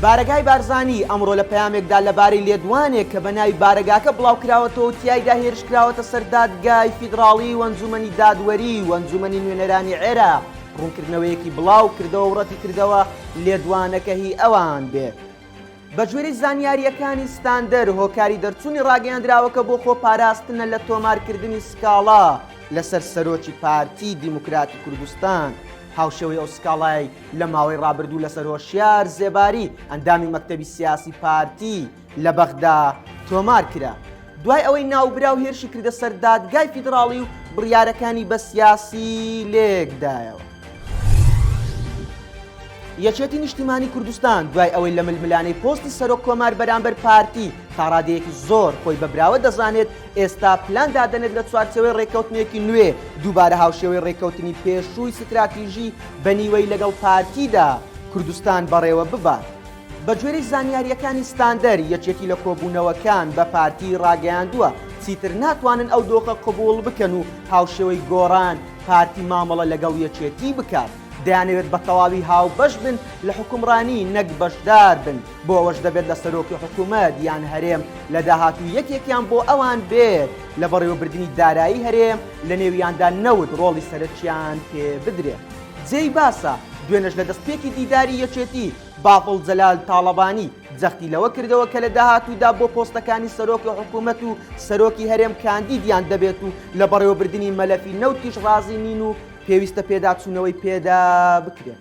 بارەگای بارزانی ئەمڕۆ لە پەیامێکدا لەبارەی لێدوانێک کە بە ناوی بارەگاکە بڵاوکراوەتەوە و تیایدا هێرشکراوەتە سەر دادگای فیدراڵی و ئەنجومەنی دادوەری و ئەنجومەنی نوێنەرانی عێراق ڕوونکردنەوەیەکی بڵاوکردەوە و ڕەتیکردەوە لێدوانەکە هی ئەوان بێت. بەگوێرەی زانیارییەکانی ستاندەر، هۆکاری دەرچوونی ڕاگەیەندراوەکە بۆ خۆپاراستنە لە تۆمارکردنی سکاڵا لەسەر سەرۆکی پارتی دیموکراتی کوردستان، هاوشێوەی ئەو سکاڵایەی لە ماوەی ڕابردوو لەسەر هۆشیار زێباری ئەندامی مەکتەبی سیاسی پارتی لە بەغدا تۆمار کرا. دوای ئەوەی ناوبراو هێرشی کردە سەر دادگای فیدراڵی و بڕیارەکانی بە سیاسی لێکدایەوە. یەکێتی نیشتیمانی کوردستان دوای ئەوەی لە ململانەی پۆستی سەرۆک کۆمار بەرامبەر پارتی تاڕادەیەکی زۆر خۆی بەبراوە دەزانێت ئێستا پلان دادەنێت لە چوارچێوەی رێککەوتنێکی نوێ دووبارە هاوشێوەی رێککەوتنی پێشووی ستراتیژی بە نیوەی لەگەڵ پارتیدا کوردستان بەڕێوە ببات. بەگوێرەی زانیارییەکانی ستاندەر، یەکێتی لە کۆبوونەوەکان بە پارتی راگەیاندووە چیتر ناتوانن ئەو دۆخە قبووڵ بکەن و هاوشێوەی گۆڕان پارتی مامەڵە لەگەڵ یەکێتی بکات، دەیانەوێت بەتەواوی هاوبەش بن لە حوکمڕانی نەک بەشدار بن. بۆ ئەوەش دەبێت لە سەرۆکی حکوومەت یان هەرێم لە داهاتوو یەکێکیان بۆ ئەوان بێت لە بەڕێوەبردننی دارایی هەرێم لە نێویاندا نەوت ڕۆڵی سەرەکیان پێ بدرێت. جێی باسە، دوێنێش لە دەستپێکی دیداری یەکێتی، بافڵ جەلال تاڵەبانی جەختی لەوە کردەوە کە لە داهاتوودا بۆ پۆستەکانی سەرۆکی حکوومەت و سەرۆکی هەرێم کاندیدیان دەبێت و لە بەڕێوەبردننی مەلەفی نەوتیش ڕازی نین و پێویستە پێداچوونەوەی پێدا بکرێت.